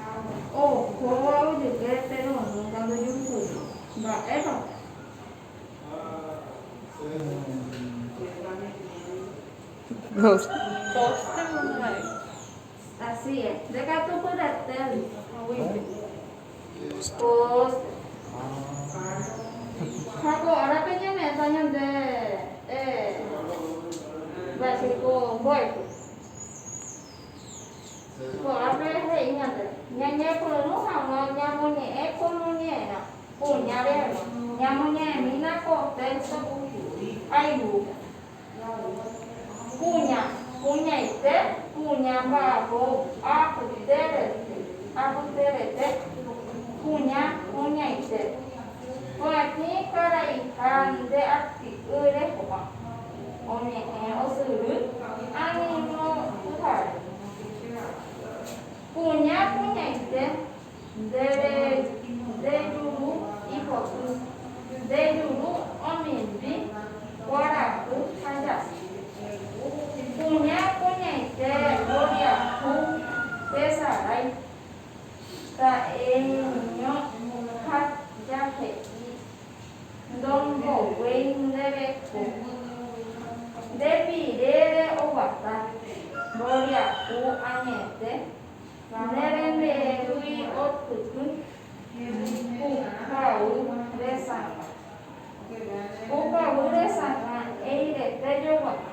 Ha ohóva ojupe Pedro nunka ndojurukuéi. Mba'épa pe. Ha ko árape ñame'ẽta ñande mba'e jeiko mbo'epy. Ko'ápe he'i ñande, ñañepyrũ hag̃ua ñamoñe'ẽ komoñe'ẽrã kuñarérõ, ñamoñe'ẽmína ko téxto aiguýpe, kuña, kuñaite, kuña mba'apo, apyterete, apyterete, kuña, kuñaite, pya'etĩ karaiha nde aty'y reho'a. Oñe'ẽ osyry añeño pyhare. Kuña kuñaite, ndéve ndejuru ipoty, ndejuru omimbi, kuarahy ha jasy. Kuña kuñaite mboriahu tesarái, ta'eño ha jahe'i. Ndomboguéi ndéve ko yvy. Nde pirére oguata, mboriahu añete, ndéve nde yvy oipytũ, pukavy resãva. Pukavy resãva eirete joguata.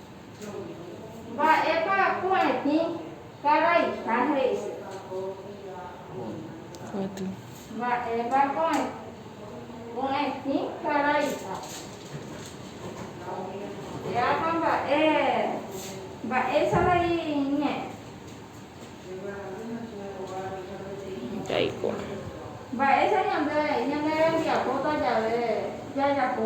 Mba'épa ko'ẽtĩ karaiha he'ise? Mba'épa ko'ẽtĩ karaiha? Péapa mba'e mba'éicha vai ñe'ẽ? Jaikuaa. Mba'éicha ñande ñanerembiapóta jave jajapo?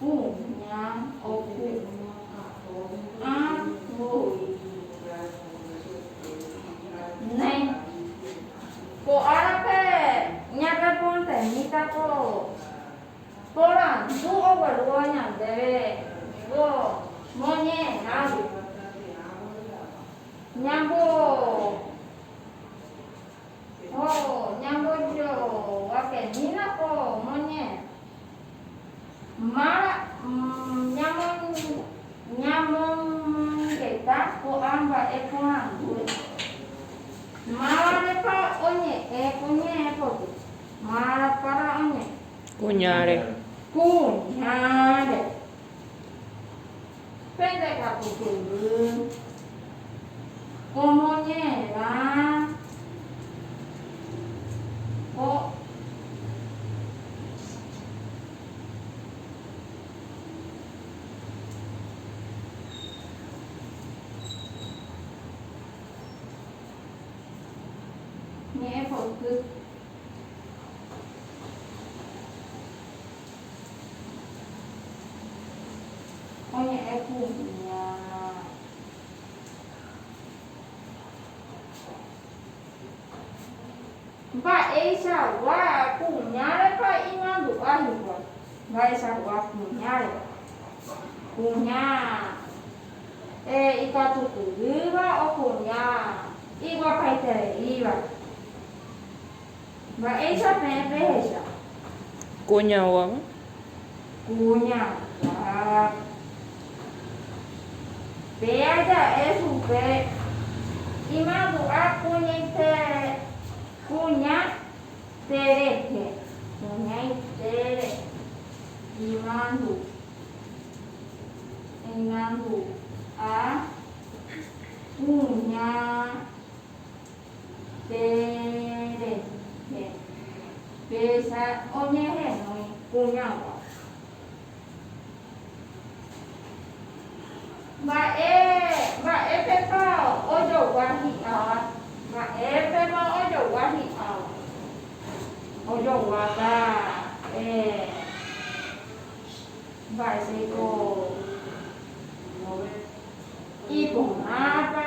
Ku ña oku ã voi. Néi. Ko árape ñarreportemíta ko porandu oguerúva ñandéve ko moñe'ẽrãgui. Ñambo ho ñambojoguakenína ko moñe'ẽrã. Mara, Ñamomongueta ko'ã mba'e porãngue. Mávarepa oñe'ẽ kuñae pogy. Mara, Para oñe'ẽ. Kuñáre. Kuñáre. Pende katu kyvy omoñe'ẽva ko ñe'ẽpoty. Oñe'ẽ kuña. Mba'eichagua kuñárepa imandu'a hikuái. Mba'eichagua kuñárepa. Kuña ikatukurýva o kuña iguapaitereíva. Mba'éicha peẽ pehecha. Kuñaguáva. Kuñaguáva. Péa ja'e chupe. Imandu'a kuñaite. Kuña terehe. Kuñaitére. Imandu. Imandu'a. Kuña. Che rehe. Péicha oñehenói kuñágua. Mba'e, mba'épepa ojogua hi'áva? Mba'épepa ojogua hi'áva? Ojoguáta, eh, mba'éiko iporãpa.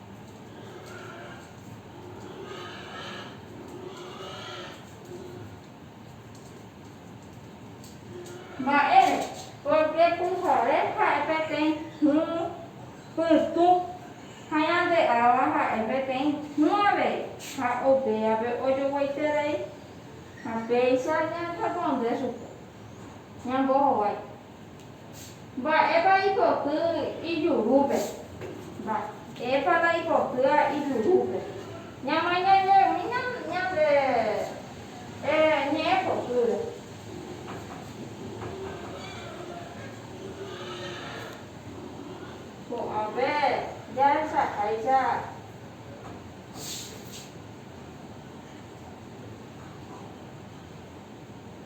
Mba'ére? Pórke pyhare ha'e peteĩ hũ pytũ ha ñande'áva ha'e peteĩ hũ avei, ha upévape ojoguaiterei ha péicha ñañeponde chupe, ñambohovái. Mba'épa ipoty ijurúpe? Mba'épa ndaipotýva ijurúpe? Ñamañañaimi ñande ñe'ẽ potýre. Ko'ãve jahechaháicha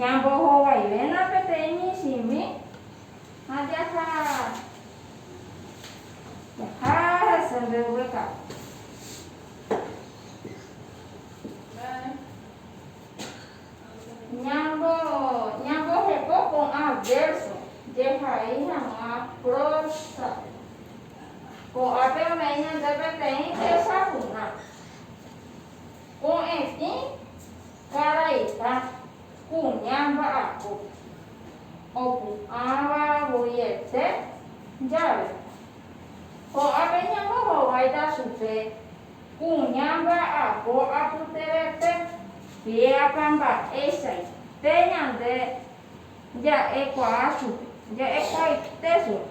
Ñambohovaivérõ peteĩ michĩmi ha jaha jaha hese nde yvytagua. Ñambo ñambohepo ko'ã vérso jehai hag̃ua prósape. Ko'ápe ome'ẽ ñande peteĩ tesapu'ã ko'ẽtĩ. Karaita, kuña mba'apo, opu'ãva voiete jave, ko'ápe ñambohováita chupe kuña mba'apo apyterete. Mba'épa mba'eichaite ñande ja'ekuaa chupe? Ja'ekuaaite chupe.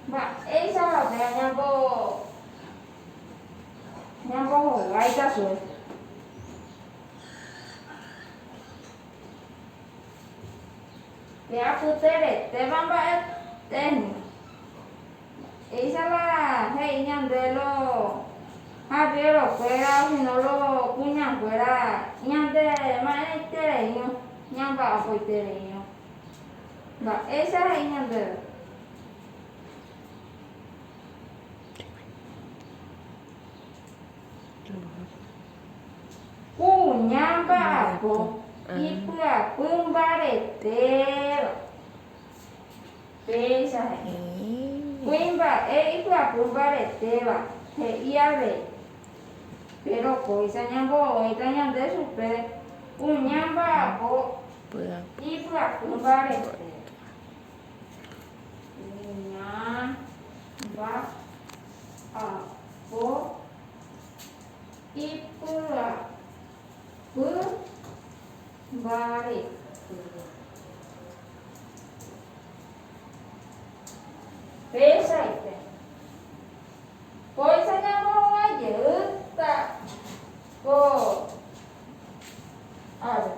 Mba'éichapa pe añambo. Ñambohovái katu. Pe apyteretéva mba'etéhmi. Péicha la he'i ñande lo habiéro kuéra osino lo kuña kuéra ñande ma'ẽitereirõ, ñamba'apoitereirõ. Mba'éicha he'i ñandéve. Kuña mba'apo ipyapy mbaretéva. Péicha he'i. Kuimba'e ipyapy mbaretéva, he'i avei. Péro kóicha ñambo'õita ñande chupe kuña mba'apo ipyapy mbaretéva. Mba'apo ipy'apy mbarete. Péichaite. Kóicha ñambohovái jeýta ko. Ára.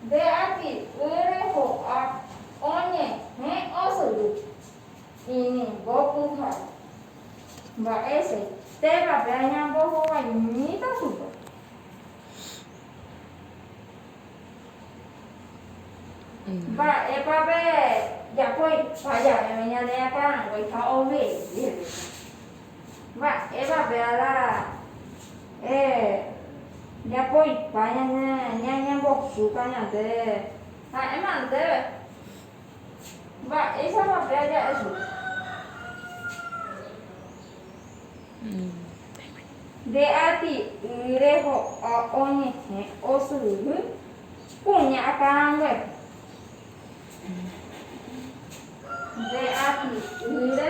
Nde ati ỹre ho'a oñehẽ osyry. Inimbo pyhare. Mba'éichai témape añambohovaimíta chupe. Mba'épa pe japói ha javeve ñane akãranguéi ha ove'éi Jerusalén. Mba'évape Adán ra'e japoipa ñambosuka ñande? Ha'éma ndéve. Mba'éichapa pe aja'e chupe? Nde ati'y reho'a oñehẽ osyry kuña akãranguépe. Nde ati'ýre.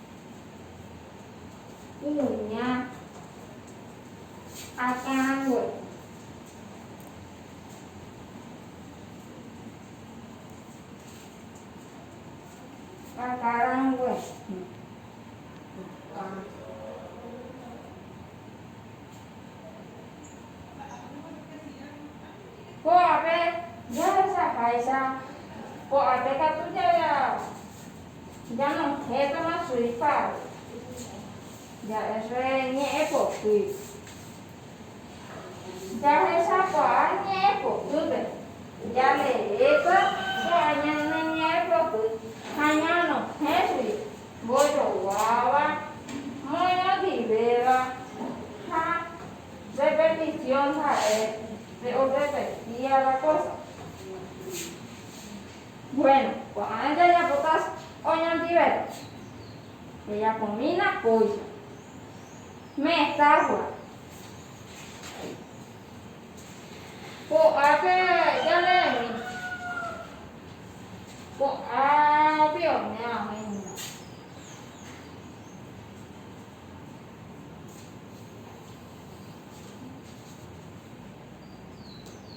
kuña akãrague. Akãrague. Ko'ápe jahesahaicha, ko'ápe katu ja Ñanohẽtama Suiza ja'ése ñe'ẽ poty. Jahechakuaa ñe'ẽ potýpe, jareréko ja'e ñane ñe'ẽ poty ha ñanohẽgui mbojoguáva, moñondivéva ha repetisiõ ha'e pe orepetíava kósa. Bueno, ko'ã jajapóta oñondivéva, jajapomína kóicha, metáfora. Ko'ápe jane'ẽmi ko'ã pionéa oĩva.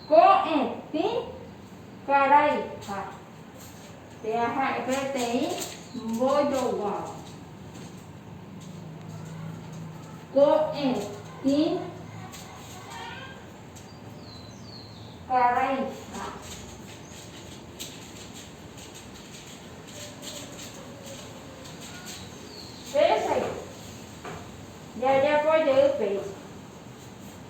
Ko'ẽ tĩ karai ha tea ha'e peteĩ mbojoguáva. Ko'ẽ tĩ karai ha péicha jajapo jey péicha.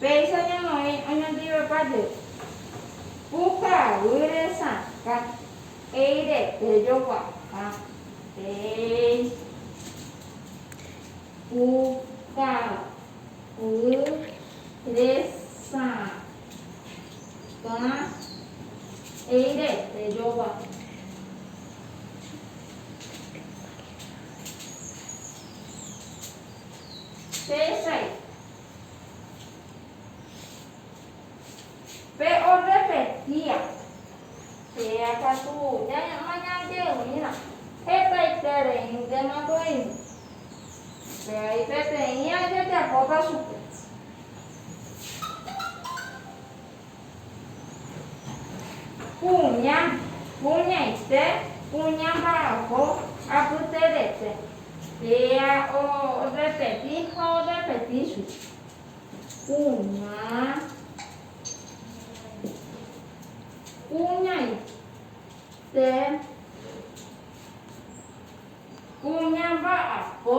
Péicha ñamoĩ oñondivepa-je, pukavýre sakã, eirete joguata, péicha pukavýre sakã, eirete joguata. Tesãi. Pe orrepetia. Péa katu ñañe'ẽrõirã hetaitereíntemako reime. Upéi peteĩ ajejapóta chupe. Kuña, kuñaite, kuña mbarako, apyterete. Péa o rrepeti ha o rrepeti chupe. Kuña, kuñaite, kuña mbarako.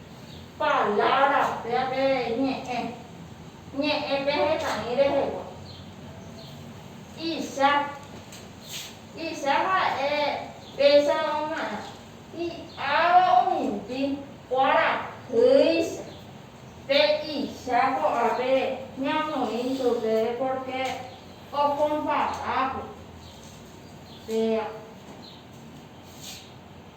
Palabra péva pe ñe'ẽ, ñe'ẽ pe hetaĩ rehegua. Icha, icha ha'e péicha omaerã, hi'áva omimbi kuarahýicha. Pe icha ko'ápe ñamoĩ chupe pórke okompara ko péva.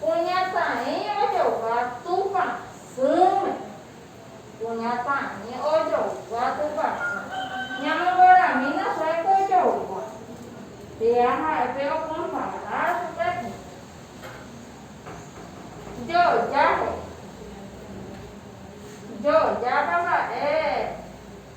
Kuñataĩva jogua Tupã sỹme. Kuñataĩ ojogua Tupã sỹ. Ñamongoramína chupe pe ojogua. Péva ha'e pe okonfronta chupe tĩke. Joja he'i. Jojápa mba'e.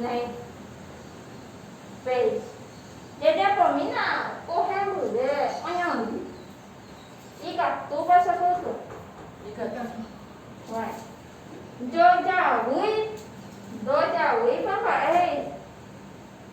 Ne. Péicha. Jajapomína ko hembyre oñondy. Ikatúpa che pytũ. Ikatúpa. Bueno. Jojavýi, ndojavýipa mba'e he'i.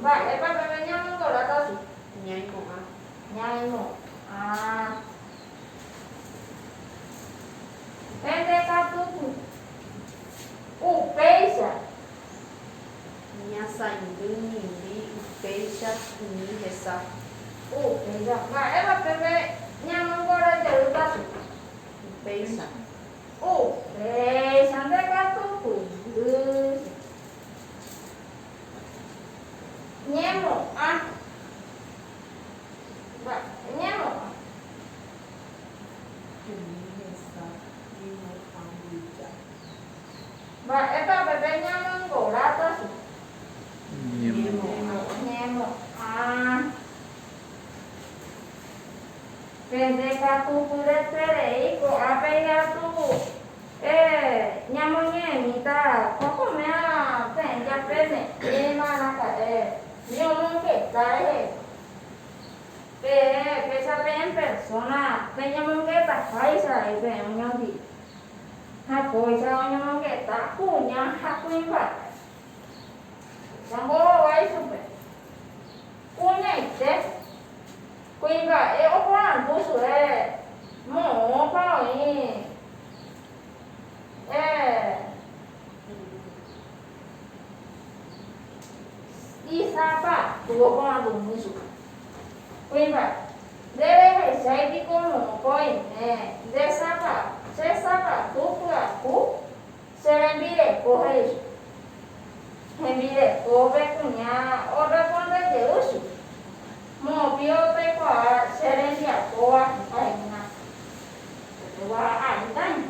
Mba'épa peve ñamokorãta si. Ñaimo'ã. Ñaimo'ã. Pende katu ku. Upéicha. Ñasaindy mimbi upéicha umi hesa. Upéicha. Mba'épa peve ñamokorã jeýta si. Upéicha. Upéicha nde katu ku. Ndy si. Ñemo'ã. Ba. Ñemo'ã. Umi hesa ñemo'ã mbyja. Mba'épa peve ñamoingora pyahu. Ñemo'ã. Ñemo'ã. Pende katu pyreterei ko'ã pe hi'atũ. Héẽ, ñamoñe'ẽmíta ko komérã peẽ jape me'ẽma raka'e ñomongueta rehe. Peẽ péicha peẽ persóna peñemongetahaicha rei peẽ oñondive ha kóicha oñomongeta kuña ha kuimba'e. Péicha mbohovái chupe. Kuñaite, kuimba'e oporandu chugui, Moõpa oĩ eh. Isãpa tu oporandumi chupe, Kuimba'e, ndéve ehechái piko moõpa oime, ndesãpa, chesãpa tu pyahu? Che rembireko, he'i chupe. Hembirekópe kuña orresponde jey chupe, Mo'opy otaikuaa che rembiapóva heta he'ína, Ko'ẽgua aĩtaño.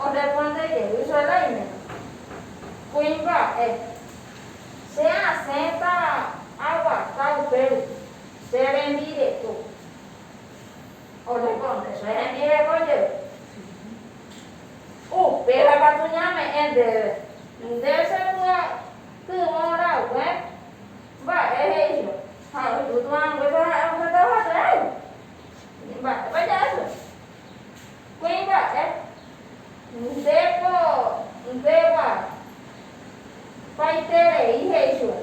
Orresponde jey chupe Raiméno, Kuimba'e, che asẽta aguata upe rupi che rembireko. Oñekonteso hembireko jey, upéva katu ñame'ẽ ndéve nde che py'atyvõ rague mba'e he'íva ha oipytu'anguépa ha'e ohendáva cheréve. Ni mba'épa ja'ése kuimba'e nde ko ndegua paiterei he'i chupe.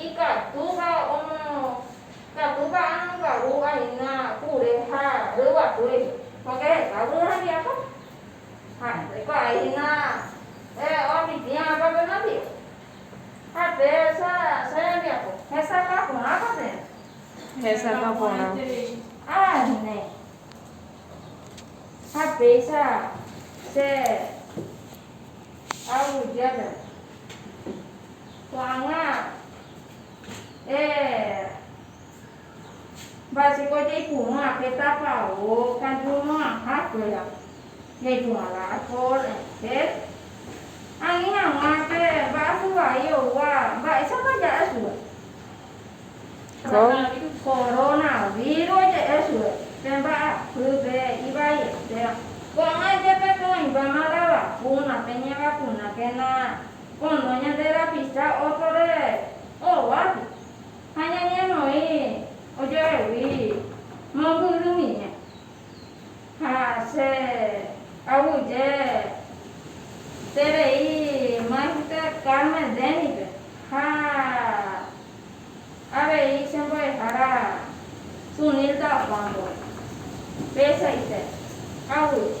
Ikatúva omokatu ka'arõkaru ahína kure ha ryguasúi póke heta kuri hembiapo. Ha ndoikuaái hína oapitĩva apa pe mandi'o. Ha pe sa che rembiapo hesakã porãpa térã. Hesakã porã terei. Ha ne. Ha péicha che aguyje térã. Ko'ág̃a eh, mba'éichapa jaipurúva pe tápa óka ñuno'ãha kuéra, jaipurúva la alcohol en gel, ani hag̃ua pe vaso vai oúva mba'éichapa ja'e chupe, coronavirus oje'e chupe pe mba'apýpe he'i vaietérõ, ko'ág̃a jepe pe oĩmbáma la vacuna, peñevakunakéna. pono ñande rapicha ótrore óvape ha ñañemoĩ ojevegui mombyrymive. Ha che aguyje terei Maestro Carmel Denny-pe ha avei che mbo'ehára Sunil Dalpan-pe. Peichaite, aguyje.